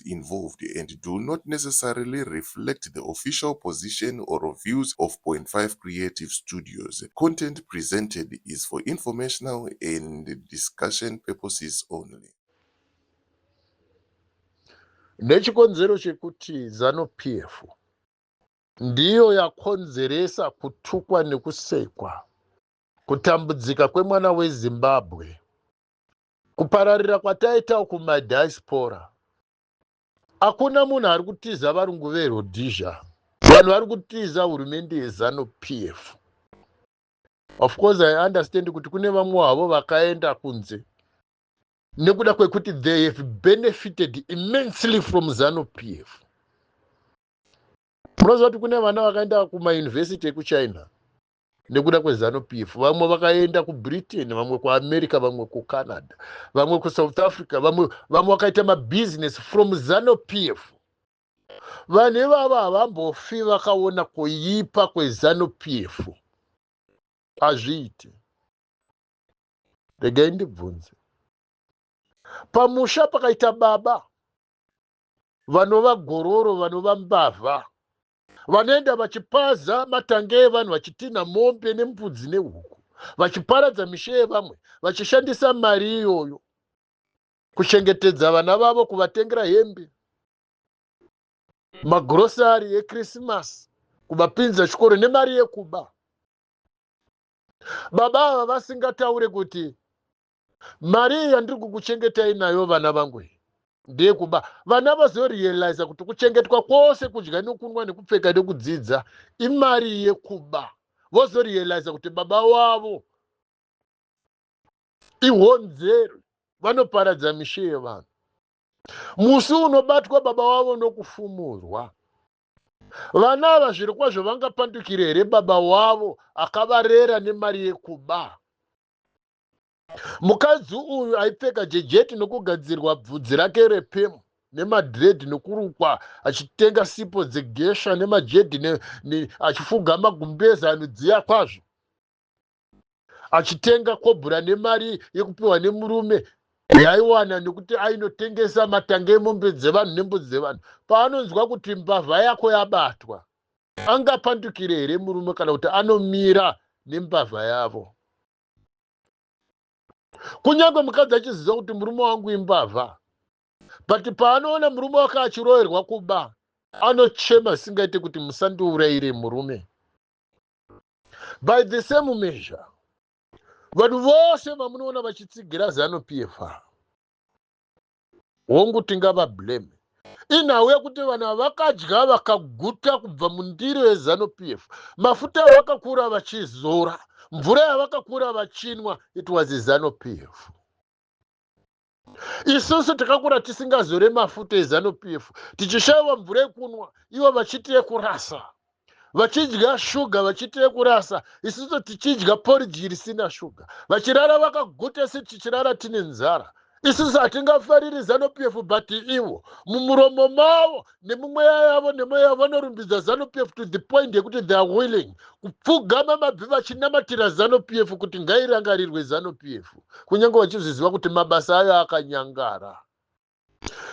act involved and do not necessarily reflect the official position or views of Point Five Creative Studios. Content presented is for informational and discussion purposes only. Nechikonzero chekuti Zanu PF ndiyo yakonzeresa kutukwa nekusekwa kutambudzika kwemwana wezimbabwe kupararira kwataitawo kumadiaspora hakuna munhu ari kutiza varungu verhodhizha vanhu vari kutiza hurumende yezanu p f of course i understand kuti kune vamwe havo vakaenda kunze nekuda kwekuti they have benefited immensely from zanu p f munoziva kuti kune vana vakaenda kumayunivhesiti ekuchina nekuda kwezanu p f vamwe vakaenda kubritain vamwe kuamerica vamwe kucanada vamwe kusouth africa vamwe vamwe vakaita mabhizinesi from zanu p f vanhu ivavo havambofi vakaona kuipa kwezanu p f hazviiti regai ndibvunze pamusha pakaita baba vanova gororo vanova mbavha vanoenda vachipaza matanga evanhu vachitinha mombe nembudzi nehuku vachiparadza mishe yevamwe vachishandisa mari iyoyo kuchengetedza vana vavo kuvatengera hembe magurosari ekrisimasi kuvapinza chikoro nemari yekuba baba ava vasingataure kuti mari iyi yandiri kukuchengetai nayo vana vangu iyi ndeyekuba vana vazorealiza kuti kuchengetwa kwose kudya nekunwa nekupfeka nekudzidza imari yekuba vozorealiza kuti baba wavo ihonzeri vanoparadza mishe yevanhu musi unobatwa baba wavo nokufumurwa vana ava zviri kwazvo vangapandukire here baba wavo akavarera nemari yekuba Mukadzi uyu aipfeka jejeti nokugadzirwa bvudzi rake repemu nemadhiredhi nokurukwa achitenga sipo dzegesha nemajedhi ne, ne, achifuga magumbeze anodziya kwazvo achitenga kobhura nemari yekupiwa nemurume yaiwana nekuti ainotengesa matanga emombe dzevanhu nembudzi dzevanhu paanonzwa kuti mbavha yako yabatwa angapandukire here murume kana kuti anomira nembavha yavo kunyange mukadzi achiziva kuti murume wangu imbavha but paanoona murume wake achiroerwa kuba anochema singaite kuti musandiurayire murume by the same measure vanhu vose vamunoona vachitsigira zanu pfa hongu tingavablame inhau yekuti vana vakadya vakaguta kubva mundiro yezanu pf mafuta avakakura vachizora mvura yavakakura vachinwa it was izanu pf isusu takakura tisingazore mafuta ezanu pf tichishaiwa mvura yekunwa ivo vachiti yekurasa vachidya shuga vachiita yekurasa isiso tichidya poridyi risina shuga vachirara vakaguta isi tichirara tine nzara isiso hatingafariri zanupf but ivo mumuromo mavo nemumweya yavo nemweya yavo vanorumbidza zanupf to the point yekuti they are willing kupfugama mabvi vachinamatira zanupf kuti ngairangarirwe zanupf kunyange vachizviziva kuti mabasa ayo akanyangara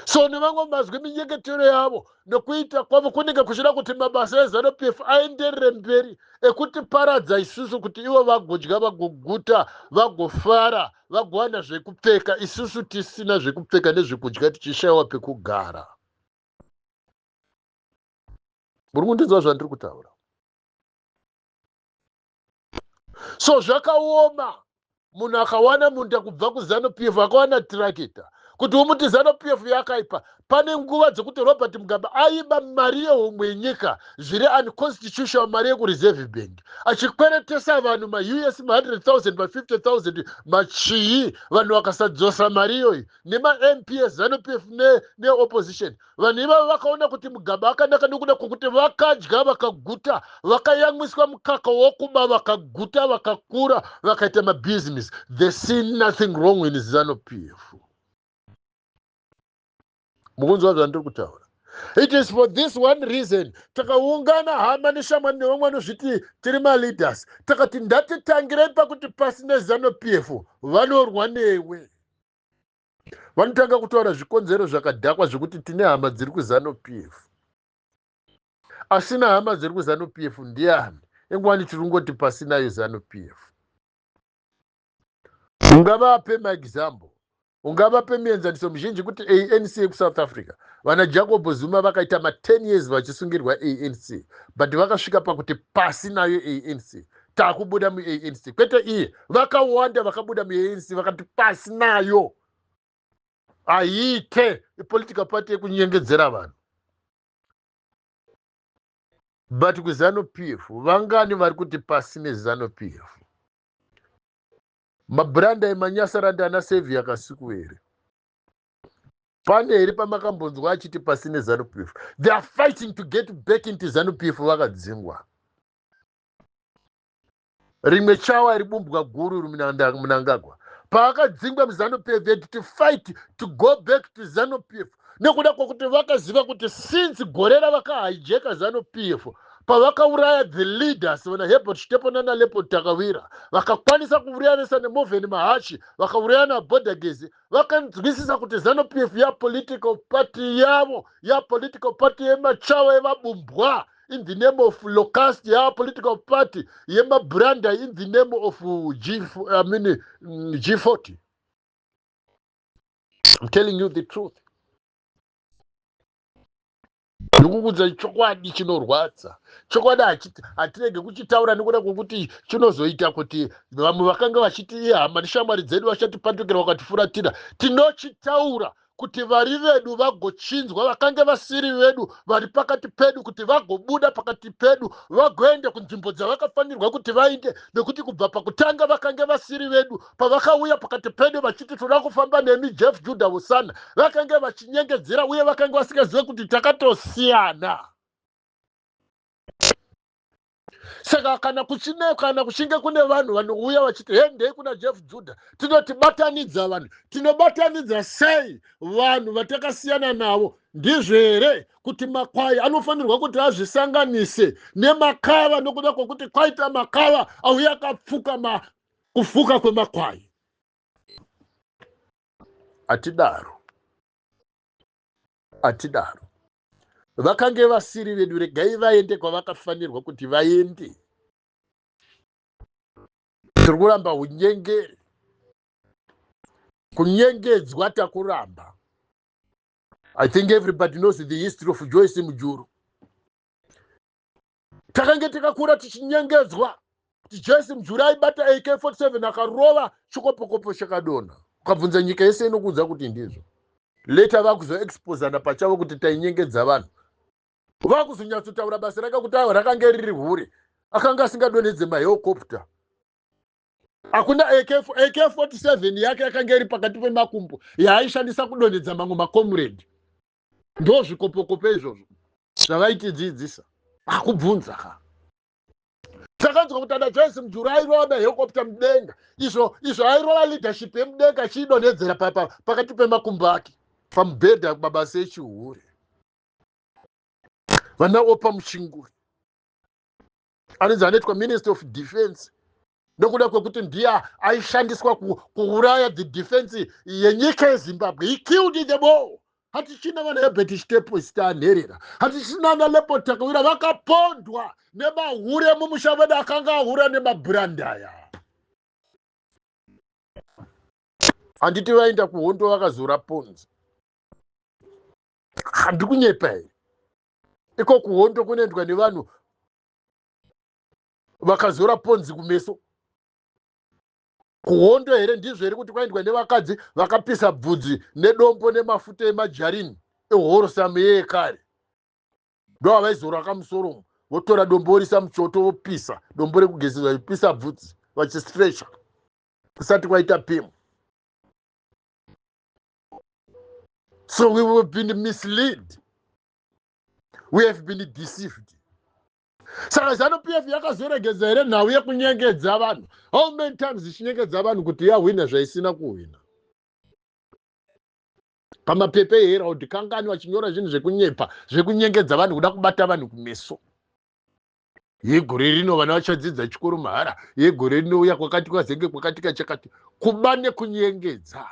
so nevamwe mazwi minyeketero yavo nokuita kwavo kunenge kuchida kuti mabasa ezanu p f aenderere mberi ekutiparadza isusu kuti ivo vagodya vagoguta vagofara vagowana zvekupfeka isusu tisina zvekupfeka nezvekudya tichishayiwa pekugara muri kundinzwa zvandiri kutaura so zvakaoma munhu akawana munda kubva kuzanu p f akawana tirakita kuti umuti zanu p f yakaipa pane nguva dzekuti robert mugabe aiba mari yehomwe yenyika zviri unconstitutional mari yekureserve bank achikweretesa vanhu maus ma 100 000 ma 50 000 machii vanhu vakasadzosa mari iyoyi nemamp ezanu p f neopposition ne Vanhu ivavo vakaona kuti mugaba wakanaka nokuda kwokuti vakadya vakaguta, vakayamwiswa mukaka wokuba vakaguta, vakakura, vakaita mabhizinesi. They see nothing wrong in Zanu PF. Mukunzwa zvandiri kutaura? It is for this one reason takaungana hama neshamwari nevamwe vanozviti tiri maleaders takati ndatitangirei pakuti pasi neZanu PF vanorwa newe. vanotanga kutaura zvikonzero zvakadhakwa zvekuti tine hama dziri kuzanu p f asina hama dziri kuzanu p f ndiani ingwani tiri kungoti pasinayo zanu p f ungavape maexample ungavape mienzaniso mizhinji kuti anc yekusouth africa vana jacob zuma vakaita ma10 years vachisungirwa anc but vakasvika pakuti pasi nayo anc takubuda muanc kwete iye vakawanda vakabuda muanc vakati pasi nayo haiite ipolitical party yekunyengedzera vanhu but kuzanu p f vangani vari kuti pasi nezanu p f mabhuranda emanyasaranda ana sevi yakasiku here pane here pamakambonzwa achiti pasi nezanu p f they are fighting to get back into zanu p f vakadzingwa rimwe chawa ribumbwa guru munangagwa paakadzingwa muzanup f had to fight to go back to zanup f nekuda kwekuti vakaziva kuti since gore ravakahijeka zanup f pavakauraya the leaders vana hebert chitepo nana lepo takawira vakakwanisa kuurayanisa nemovhen mahachi vakauraya nabodagezi vakanzwisisa kuti zanup f yapolitical party yavo yapolitical party yemachawa evabumbwa in the name of locust ya political party yemabranda in the name of uh, g i mean mm, g40 i'm telling you the truth ndikukuudza chokwadi chinorwadza chokwadi hatirege kuchitaura nekuda kwekuti chinozoita kuti vamwe vakanga vachiti ihama neshamwari dzedu vachatipatukira vakatifuratira tinochitaura kuti vari vedu vagochinjwa vakange vasiri vedu vari pakati pedu kuti vagobuda pakati pedu vagoenda kunzvimbo dzavakafanirwa kuti vainde nekuti kubva pakutanga vakange vasiri vedu pavakauya pakati pedu vachiti toda kufamba nemi jeff juda hosana vakange vachinyengedzera uye vakange vasingazive kuti takatosiyana saka kana kuchine kana kuchinge kune vanhu vanouya vachiti hendei kuna jeff juda tinoti batanidza vanhu tinobatanidza sei vanhu vatakasiyana navo ndizvo here kuti makwai anofanirwa kuti azvisanganise nemakava nokuda kwokuti kwaita makava auya akapfuka ma kufuka kwemakwai atidaro atidaro vakange vasiri vedu regai vaende kwavakafanirwa kuti vaende tiri kuramba unyengeri kunyengedzwa takuramba i think everybody knows the history of joyce mujuru takange takakura tichinyengedzwa kuti jesi mujuri aibata ak 47 akarova chikopokopo chakadonha ukabvunza nyika yese inokuudza kuti ndizvo leta vakuzoexposana pachavo kuti tainyengedza vanhu vakuzonyatsotaura basa rake kuti avo rakange riri hure akanga asingadonhedze maheokopta hakuna ak 47 yake yakanga iri pakati pemakumbo yaaishandisa kudonhedza mamwe makomuredi ndozvikopokopo izvozvo zvavaitidzidzisa akubvunza ka takanzwa kuti ana joyce mujuru airova mahekopta mudenga izvo izvo airova leadership yemudenga achiidonhedzera pakati pemakumbo ake pamubhedha mabasa echihure vana opa muchinguri anonzi anoitwa minister of defense nokuda kwekuti ndiye aishandiswa kuuraya the defense yenyika yezimbabwe he killed in the ball hatichina vana hebert chitepo sitaanherera hatichina ana lepo takawira vakapondwa nemahure mumusha vedu akanga ahura nemabhurandaya handiti vaenda kuhondo vakazora ponzi handikunyepa here iko kuhondo kunoendwa nevanhu vakazora ponzi kumeso kuhondo here ndizvo here kuti kwaendwa nevakadzi vakapisa bvudzi nedombo nemafuta emajarini ehoro sameye ekare ndo avaizora akamusoromo votora dombo vorisa muchoto vopisa dombo rekugezeza vachipisa bvudzi vachistrecha kusati kwaita pemu so we have been misled we have been deceived saka zanu p f yakazoregedza here nhau yekunyengedza vanhu how many times ichinyengedza vanhu kuti yahwina zvaisina kuhwina pamapepa eherald kangani vachinyora zvinhu zvekunyepa zvekunyengedza vanhu kuda kubata vanhu kumeso yegore rino vana vachadzidza chikoro mahara yegore rinouya kwakati kwazenge kwakatika chakati kuba nekunyengedza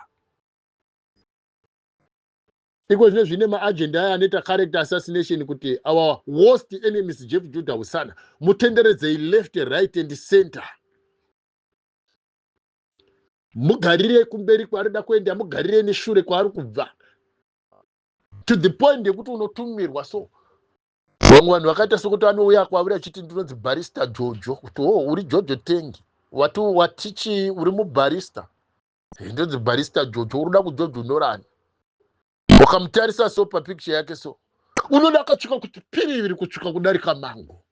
iko zvinezvi ine maagenda ayo anoita character assassination kuti our worst enemies jeff juda husana mutenderedzei left right and center mugarirei kumberi kwaari da kuenda mugarirei neshure kwaari kubva to the point yekuti unotumirwa so vamwe vanhu vakaita sokuti anouya kwauri achiti ndinonzi barista jojo kuti o oh, uri jojo tengi wati watichi uri mubarista ndonzi barista jojo unoda kujojonorani wakamutarisa so papikicha yake so unoda akatsvika kuti piriviri kutsvika kudarika mango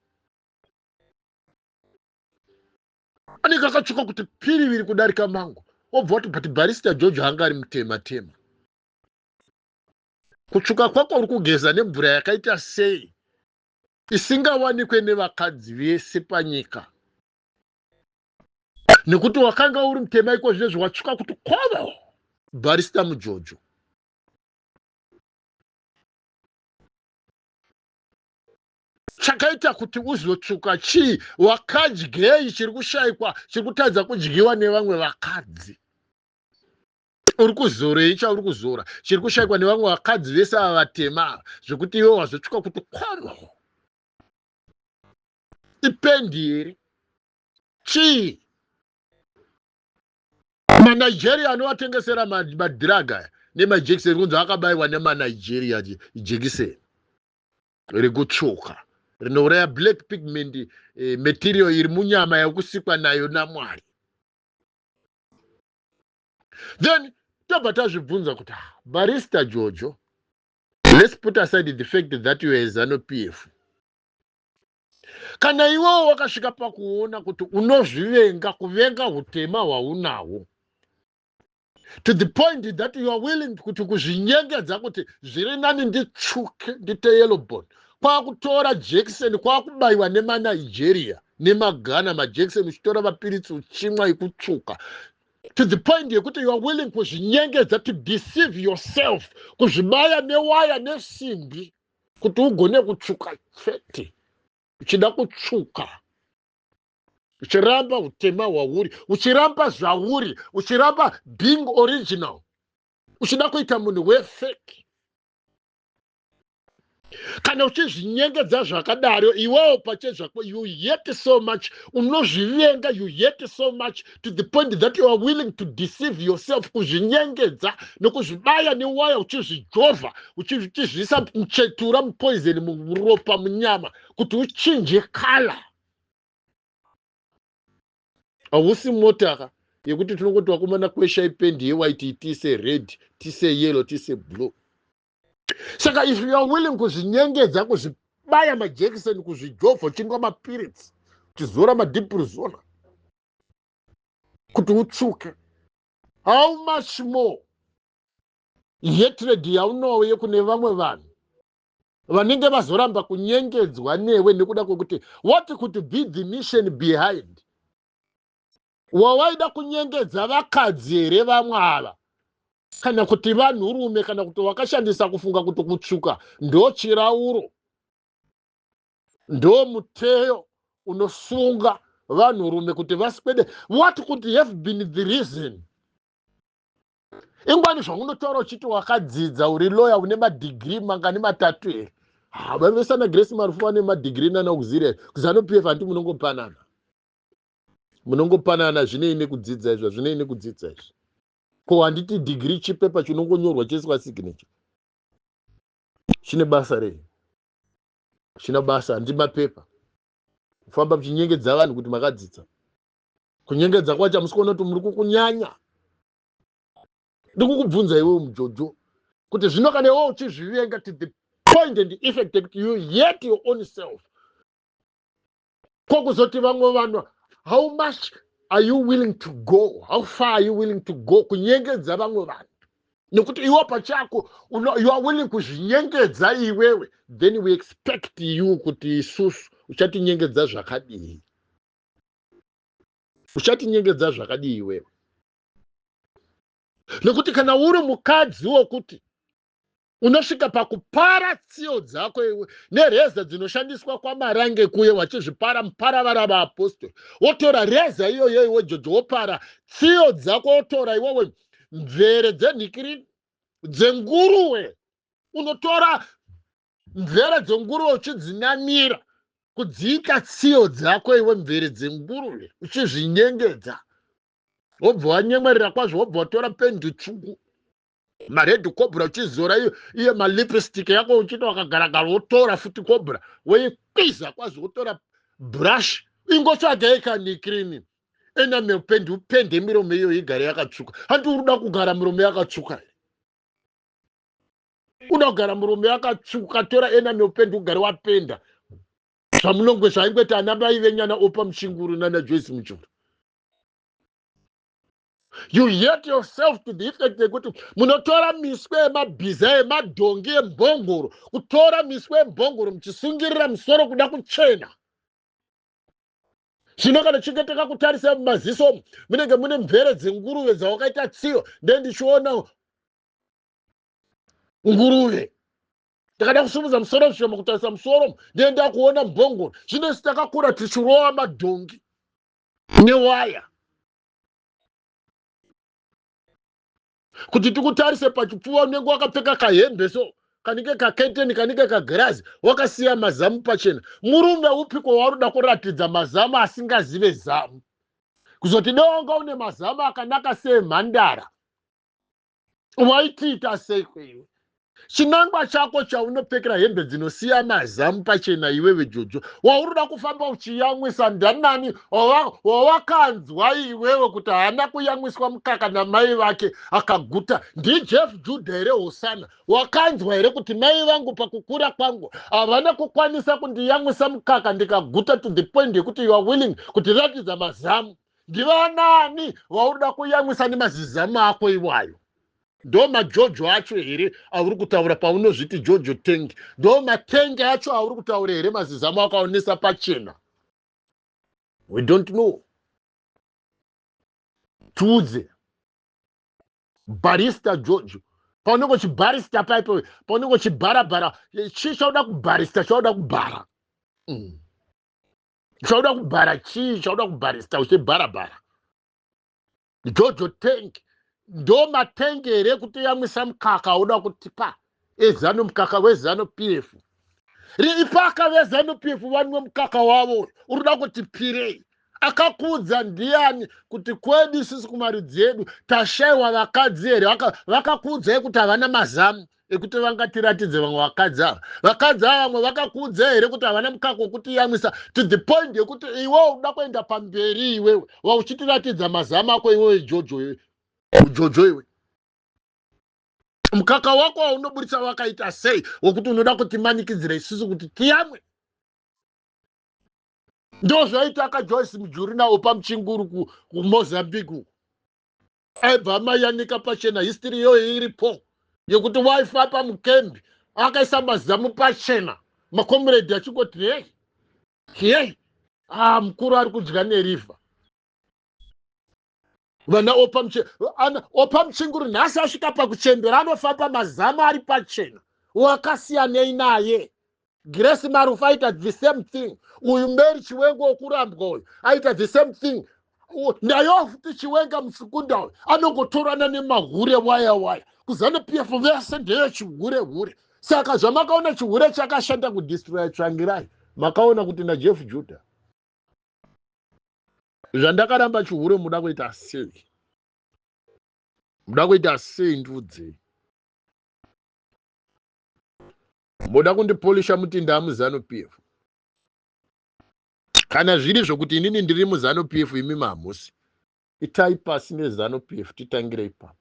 anenge akatsvika kuti piriviri kudarika mango wobva wati but barista jojo anga ari mutema tema kutsvuka kwako uri kugeza nemvura yakaita sei isingawanikwe nevakadzi vese panyika nekuti wakanga uri mutema iko zvinezvi watsvuka kuti kovo barista mujojo chakaita kuti uzotsvuka chii wakadyei chiri kushaikwa chiri kutadza kudyiwa nevamwe vakadzi uri kuzorei chauri kuzora chiri kushaikwa nevamwe vakadzi vese ava vatema zvekuti iwe wazotsvuka kuti kovo ipendi here chii manigeria anovatengesera madhiraga aya nemajekiseni kunzi akabayiwa nemanigeria jekiseni rekutsvuka rinouraya black pigment eh, material iri munyama yekusikwa nayo namwari then tobva tazvibvunza kuti ah, barista jojo let's put aside the fact that you are a zanu p f kana iwewo wakasvika pakuona kuti unozvivenga kuvenga utema hwaunahwo to the point that you are willing kuti kuzvinyengedza kuti zviri nani nditsvuke ndite yellowbon kwakutora jekiseni kwakubayiwa nemanigeria nemagana majekiseni uchitora mapiritsi uchimwa ikutsvuka to the point yekuti you are willing kuzvinyengedza to deceive yourself kuzvibaya newaya nesimbi kuti ugone kutsvuka chete uchida kutsvuka uchiramba utema hwauri uchiramba zvauri uchiramba being original uchida kuita munhu wefeki kana uchizvinyengedza zvakadaro iwewo pachezvako you yet so much unozvivenga you yet so much to the point that you are willing to deceive yourself kuzvinyengedza nokuzvibaya newaya uchizvijovha uchizviisa muchetura mupoison muropa munyama kuti uchinje kala hausi motaka yekuti tinongoti wakomana kwesha ipendi yewaiti tise red tise yellow tise blue saka if youare willing kuzvinyengedza kuzvibaya majekiseni kuzvijovha uchinwa mapiritsi uchizora madiprizona kuti utsvuke how much more hatred yaunouye kune vamwe vanhu vanenge vazoramba kunyengedzwa newe nekuda kwekuti what could be the mission behind wawaida kunyengedza vakadzi here vamwe ava kana kuti vanhurume kana kuti wakashandisa kufunga kuti kutsvuka ndo chirauro ndo muteyo unosunga vanhurume kuti vaswede what could have been the reason ingwani zvaunotaura uchiti wakadzidza uri loya une madigiri mangani matatu here havavesana grace marufu vane madigiri nana auxiliary kuzanupf hanti munongopanana munongopanana zvinei nekudzidza izvi hazvinei nekudzidza izvi ko handiti dhigiri chipepa chinongonyorwa choiswa signature chine basa rei china basa handi mapepa kufamba muchinyengedza vanhu kuti makadzidza kunyengedza kwacho hamusi kuona kuti muri kukunyanya ndikukubvunza iwewo mujojo kuti zvino kana iwewo uchizvivenga to the point and effect yekuti you yet your own self ko kuzoti vamwe vanhu how much are you willing to go how far are you willing to go kunyengedza vamwe vanhu nekuti iwe pachako you are willing kuzvinyengedza iwewe then we expect you kuti isusu uchatinyengedza zvakadii uchatinyengedza zvakadii iwewe nekuti kana uri mukadzi wokuti unosvika pakupara tsiyo dzako iwe nereza dzinoshandiswa kwamarange kuye wachizvipara muparavara vaapostori wotora reza iyoyo iwe jojo wopara tsiyo dzako wotora iwewe mvere dzenhikirini dzenguruwe unotora mvere dzenguruwe uchidzinamira kudziita tsiyo dzako iwe mvere dzenguruve uchizvinyengedza wobva wanyemwerera kwazvo wobva watora pendi tsvuku mared cobra uchizora iyo iyo malipstick yako uchiti wakagaragara wotora futi cobra woikwiza kwazi wotora brush ingotsvaga yekanikrini enamel pendi upende miromo iyo igare yakatsvuka handi uri uda kugara miromo yakatsvuka here uda kugara murume akatsvuka tora ena neupendi ugare wapenda zvamunongwe zvaingweta ana mai venyana opa mushinguru nana joyce muchuru you yet yourself to the effect yekuti munotora miswe yemabhiza yemadhongi embongoro kutora miswe yembongoro muchisungirira musoro kuda kuchena zvino kana chinge takakutarisa mumaziso omu munenge mune mvere dzenguruve dzawakaita tsiyo nde ndichiona nguruve ndakada kusumudza musoro zvishoma kutarisa musoro omu nde ndakuona mbongoro zvino isi takakura tichirova madhongi newaya kuti tikutarise pachipfuva unenge wakapfeka kahembe so kanike kaketeni kanike kagirazi wakasiya mazamu pachena murume upiko waurida kuratidza mazamu asingazive zamu kuzoti dewanga une mazamu akanaka seemhandara waitiita seiko iwe chinangwa chako chaunopfekera hembe dzinosiya mazamu pachena iwewe jojo waunoda kufamba uchiyamwisa ndanani wawakanzwa iwewe kuti haana kuyamwiswa mukaka namai vake akaguta ndijeff judha here hosana wakanzwa here kuti mai vangu pakukura kwangu havana kukwanisa kundiyamwisa mukaka ndikaguta to the point yekuti youare willing kutiratidza mazamu ndivanani vaunoda kuyamwisa nemazizamu ako iwayo ndo majojo acho here auri kutaura paunozviti jojo tengi ndo matenge acho auri kutaura here mazizamu akaonesa pachena we don't know tiudze barista jojo paunenge uchibarista paipo paunenge uchibharabhara chii chauda kubharista chauda kubhara mm. chauda kubhara chii chauda kubharista uchibharabhara jojo tank ndo matank here kutoyamwisa mukaka uda kutipa ezanu mukaka wezanu p f riipaka vezanu p f vanwe mukaka wavo uyu unoda kuti pirei akakuudza ndiani kuti kwedu sisi kumari dzedu tashaiwa vakadzi here vakakuudzai kuti havana mazamu vaka ekuti vangatiratidze vamwe vakadzi ava vakadzi ava vamwe vakakuudza here kuti havana mukaka wekutiyamwisa to the point yekuti iwe uda kuenda pamberi iwewe vauchitiratidza mazama ako iwewe jojo iwe ujojo iwe mukaka wako waunoburitsa wakaita sei wekuti unoda kutimanikidzira isusu kuti tiyamwe ndozvaita akajoyce mujuri nawo pamuchinguru kumozambique uku aibva amayanika pachena history iyoyo iripo yekuti waifa pamukembi akaisa mazamu pachena makomuredhi achingoti hei hei ah mukuru ari kudya neriva vana opa muchinguri nhasi asvika pakuchembera anofamba mazamu ari pachena wakasiyanei naye grace marufu aita the same thing uyu mary chiwenga wokurambwa uyu aita the same thing nayo futi chiwenga musikunda uyu anongotorana nemahure waya waya kuzanu p f vese ndeyo chihure hure saka zvamakaona chihure chakashanda kudistroya tsvangirai makaona kuti najeff juda zvandakaramba chihure muda kuita sei muda kuita sei ndiudzei moda kundipolisha mutinda amuzanu pf kana zviri zvokuti inini ndiri muzanu pf imi mahamusi itai pasi nezanu pf titangire ipapo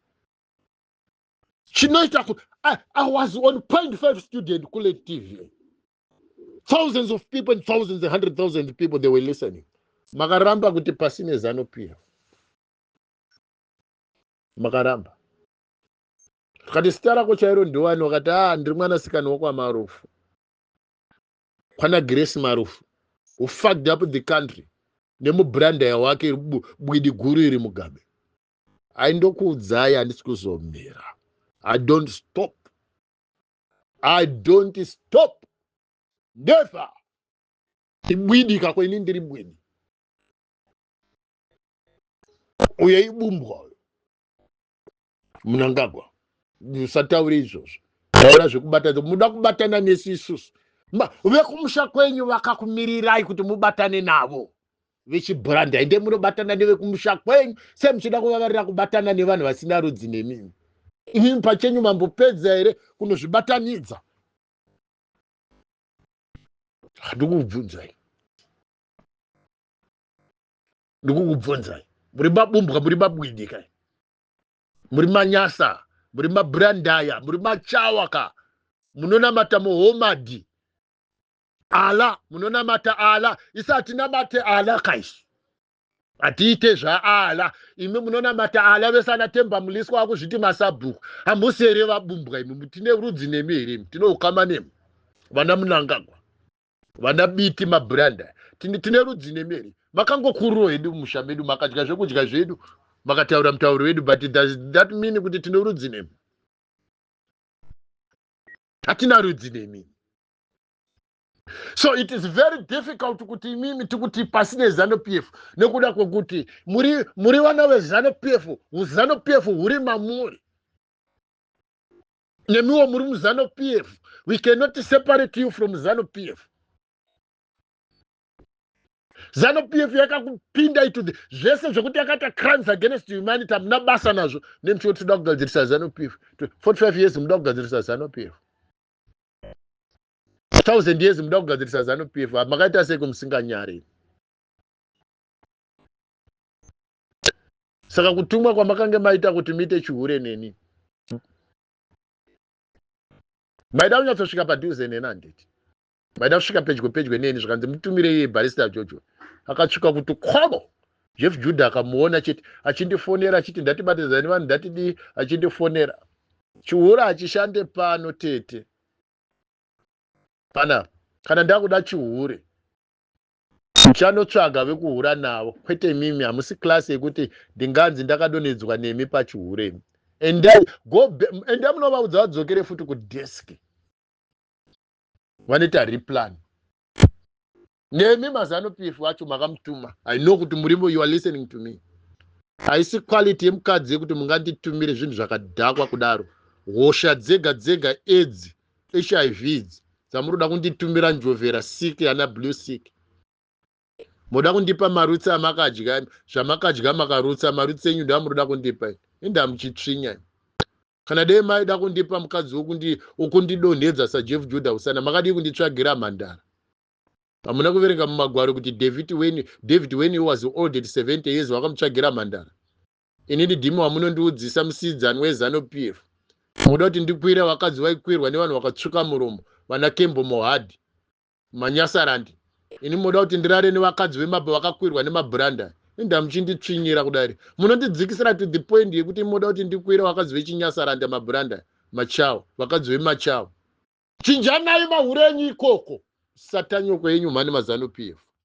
chinoita kuti I, i was on point five student kule tv thousands of people and thousands and hundred thousands of people they were listening makaramba kuti pasi nezanu pf makaramba tikati sita rako chairo ndiwani wakati a ah, ndiri mwanasikana wakwamarufu kwana grace marufu who fucked up the country nemubrandaya wake bwidi guru iri mugabe ai ndokuudzai handisi kuzomira i don't stop i don't stop never ibwidi kako ini ndiri bwidi uye ibumbwa munangagwa usataure izvozvo taura zvekubata muda kubatana nesu isusu vekumusha kwenyu vakakumirirai kuti mubatane navo vechibhuranda ende munobatana nevekumusha kwenyu sei muchida kuvavarira kubatana nevanhu vasina rudzi nemimi imimi pachenyu mambopedza here kunozvibatanidza handikubvunzai ndikukubvunzai muri mabumbwa muri mabwidi kai muri manyasa muri mabrandaya muri machawa ka munonamata muhomadi ala munonamata ala isi hatinamate ala kaisi hatiite zvaala imi munonamata ala vese ana temba muliswa akuzviti masabhuku hamusi here vabumbwa imi tine rudzi nemi here imi tine ukama nemi vana munangagwa vana biti mabranda tine, tine rudzi nemi here makangokururo hedu musha medu makadya zvekudya zvedu makataura mutauro wedu but does that mean kuti tine rudzi nemi hatina rudzi nemi so it is very difficult kuti imimi tikuti pasi nezanu p f nekuda kwekuti muri, muri vana vezanu p f uzanu p f huri mamuri nemiwo muri muzano pf we cannot separate you from zanu pf zanu pf yakakupinda ito zvese zvekuti yakaita crimes against humanity hamuna basa nazvo nemchio tinoda kugadzirisa zanu pf 45 years muda kugadzirisa zanu pf thousand years muda kugadzirisa zanu pf makaita sei kumusinganyari saka kutumwa kwamakange maita kuti muite chihure neni maida kunyatsosvika padhuze neni handiti maida kusvika pedyo pedyo neni zvikanzi mutumire iye barista jojo akatsvika kuti khobo jeff juda akamuona chete achindifonera achiti ndatibatidzani vanhu ndatidii achindifonera chihure hachishande pano tete panapa kana ndakuda chihure Muchanotsvaga vekuhura navo kwete imimi hamusi class yekuti ndinganzi ndakadonhedzwa nemi pachihure imi. Endai go endai munovaudza vadzokere futi kudesk. Vanoita replan. Nemi mazano PF wacho makamutuma. I know kuti murimo you are listening to me. Haisi quality yemukadzi yekuti munganditumire zvinhu zvakadhakwa kudaro. Hosha dzega dzega edzi hiv idzi dzamunoda kunditumira njovhera sik ana blue sik moda kundipa marutsi amakadya zvamakadya makarutsa marutsi enyu ndoamunoda kundipa ende amuchitsvinya kana dei maida kundipa mukadzi wokundidonhedza sajeff juda usana makadii kunditsvagira mhandara hamuna kuverenga mumagwaro kuti david wen david wen was old at 70 years wakamutsvagira mhandara ini didimo wamunondiudzisa musidzani wezanu pf muda kuti ndikwire vakadzi vaikwirwa nevanhu vakatsvuka muromo vana kembo mohad manyasarandi ini munoda kuti ndirare nevakadzi vemabho vakakwirwa nemabranda inda muchinditsvinyira kudari munondidzikisira to the point yekuti munoda kuti ndikwire vakadzi vechinyasaranda mabranda machawa vakadzi vemachawa chinjanai mahure enyu ikoko satanyoko yenyu mhani mazanu pf